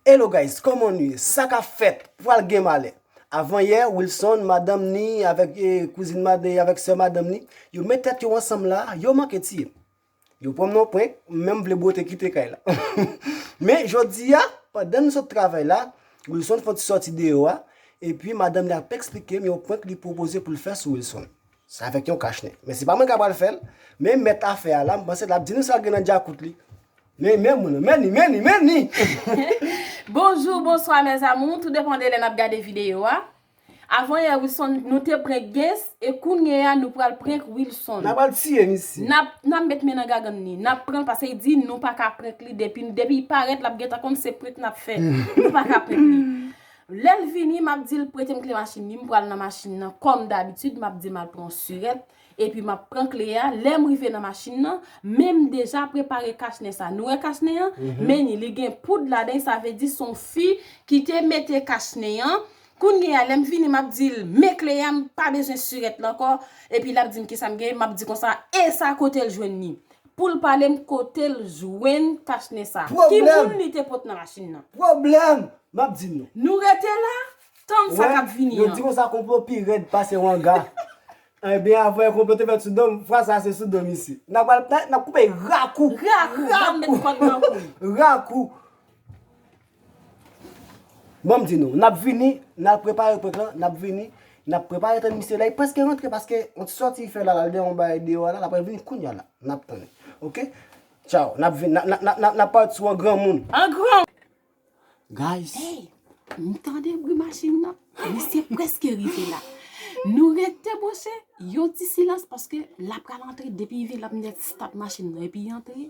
Hello guys koman nu ye sa kap fèt pwal gen malè avan yè Wilson madanm ni avèk kouzin madanm avèk sè madanm ni yo met tèt yo ansanm la yo manke tiyem yo pranm nan prank m menm vle bwote kite kay la men jodi a pandan m sot travay la Wilson fon ti sòti deyò a epi madanm li ap eksplikem yon prank li pwopoze poul fè sou Wilson Sa avèk yon kach nèt. Men se pa mwen k apral fè l. Men mèt afè a la, m panse l ap di nou sa l gen nan djakout li. Men, men moun, men ni, men ni, men ni! Bonjou, bonswa mes amours, tout depan de lè nap gade video a. Avan yè Wilson nou te prank Gess e kounye a nou pral prank Wilson. Nap al tiye misye. Nap nap met men nan gagann li. Nap pranl pase li di nou paka prank li depi depi li parèt lap gentan konn se prank nap fè. Nou paka prank li. Lèl vini map dil pretem kle machin li m pral nan machin nan kòm dabitid map dil mal pran surèt epi map pran kle a lèm rive nan machin nan menm deja prepare kach nen sa nou wè kach nen an menni li gen poud ladan sa vle di son fi kite mete kach nen an kounye a lèm vini map dil men kle a m pa bezwen surèt la ankò epi lap dim kisam gen map di konsa esa kotel jwenn li Poul palem kotel jwenn kach nen sa. Ki moun li te pot nan machin nan. Pwoblèm! Map di nou. Nou rete la, tann sa kap vini an. Yo di konsa konplo pi rèd pase wanga. Ebyen avan konplo te fèt sou dom, fwa sa se sou dom isi. Nap pral pran, nap koupe rakou. Rakou! Nap met kòd nan kou. Rakou! Banm di nou, nap vini, nal prepare prank lan, nap vini, nap prepare tann misye la, li preske rantre paske yon ti sòti li fè la, lal gen yon bagay deyò a la, lap pral vini kounya la, nap tann li, ok, tchaw, nap vini, nap pale sou an granmoun. An gran. Guys. Hey, m tande bri machin nan, misye preske rive la, nou rete monchè, yon ti silans paske la pral antre, depi li vin lap met start machin nan epi li antre.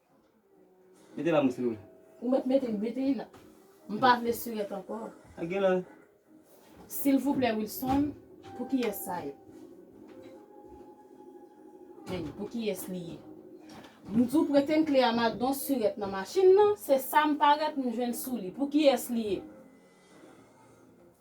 Mete la mouche nou. Ou met mete mete li la. M pa vle surette anko. A gen la. Silvouplè Wilson pou kiyès sa ye? Menn pou kiyès li ye? M di w prete m kle a ma don surette nan machin nan se sa m parèt m jwenn sou li pou kiyès li ye?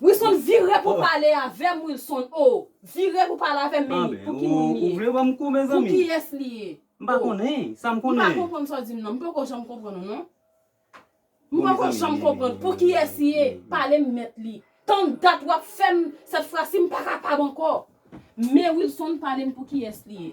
Wilson vire pou pale avèm Wilson oo vire pou pale avèm men pou ki moun li ye pou kiyès li ye oo m pa konprann sa w di m nan m poko janm konprann ou non m poko janm konprann pou kiyès li ye pale m mèt li tann dat wap fèm sèt frasi m pa kapab ankò men Wilson pale m pou kiyès li ye.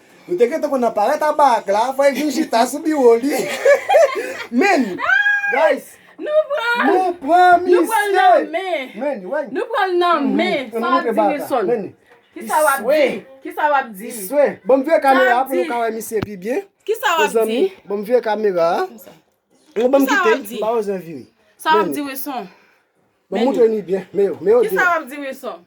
Nou te gentan konn nan parèt a Barak la fòk li vin chita sou biwo li menn guys Nou pran Nou pran misye Nou pranl nan men Menn wè Nou pranl nan men Sa wap di Wilson Menn Kisa wap di Kisa wap di Iswe Banm vire kamera a pou nou ka wè misye pi byen Kisa wap di Mezanmi banm vire kamera a Ou banm kite m pa bezwen vire Sa wap di Wilson Banm moutre nu byen Meyoo Meyoo Kisa wap di Wilson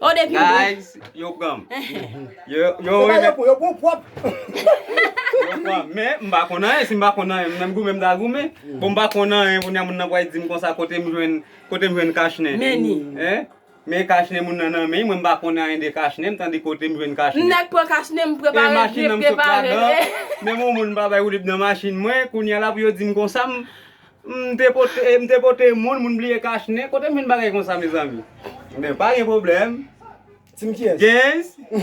Oh depi ou dwe. Guys yo pranm. Yo yo renmen. Yo pran yo pran pwop. Yo pran men m pa konn anyen si m pa konn anyen menm goumen m ta goumen bon m pa konn anyen kounya moun nan pwal dim konsa kote m jwenn kote m jwenn kach nen. Men ni. Hein men kach nen moun nan nan men mwen m pa konn anyen de kach nen m tande kote m jwenn kach nen. M nèk pran kach nen m prepare m prepare. E machin an m sot ladan menm on moun m pa bay woulib nan machin mwen kounya la pou yo dim konsa m M te pote m te pote moun, moun bliye kach nen, kote m jwenn bagay konsa mezanmi? Ebyen pa gen pwoblèm. Team kiyès? Genz oh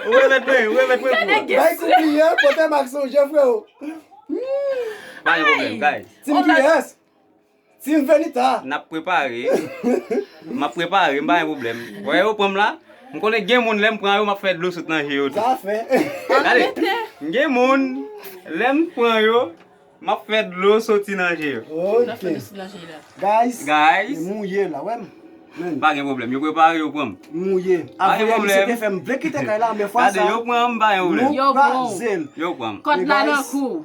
ou remèt mwen ou remèt mwen pou ou. Bay kout li an, pote m ak sonje freo. Pa gen pwoblèm guys. Team kiyès? Team Venitha. Nap prepare. Map prepare, m pa gen pwoblèm. Wè yo pranm la? M konnen gen moun lèm pran yo map fè dlo sot nan je yo tou. Sa fè. Gade, gen moun lèm pran yo map fè dlo soti nan je yo. Ok. Guys, m mouye la, wè m. Pa gen pwoblèm, yo prepare yo pranm. M mouye. Pa gen pwoblèm. Aprè misye te fè m vle kite kay la men fwa sa. Gade, yo pranm, pa gen pwoblèm. Nou kraze l. Yo pranm. Kòd la nan kou.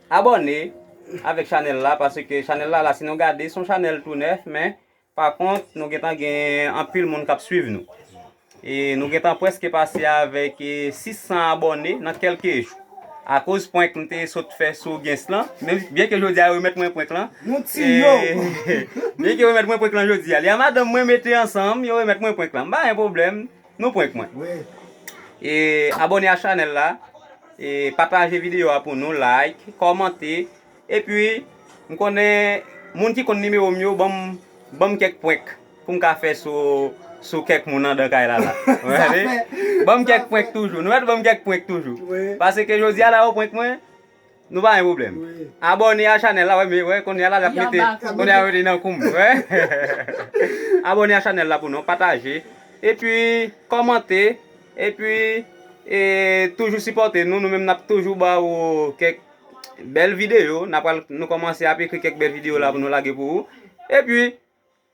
Abòne avèk chanèl la paske chanèl la la si nou gade son chanèl tou nèf men pa kont nou gentan gen anpil moun kap swiv nou e nou gentan preske pase avèk 600 abòne nan kelke jou akoz prank m te sot fè sou gens lan byen ke jodia yo remèt mwen prank lan byen ke yo remèt mwen prank lan jodia li a madanm mwen mete ansanm yo remèt mwen prank lan m pa gen pwoblèm. Nou prank mwen. E abone a chanel la. E pataje video a pou nou. Like, komante. E pi m konnen moun ki konn nimewo m yo banm kek prank pou m ka fe sou kek moun andan kay la la. Banm kek prank toujou. Nou wè banm kek prank toujou. Pase ke jodi a la yo prank mwen. Nou pa gen problem. Abone a chanel la we we kounye a la lap mete kounye a li nan koum. Abone a chanel la pou nou pataje epi komante epi e toujou sipote nou nou menm nap toujou ba ou kek bel video nou komanse ap ekri kek bel video la pou nou lage pou ou epi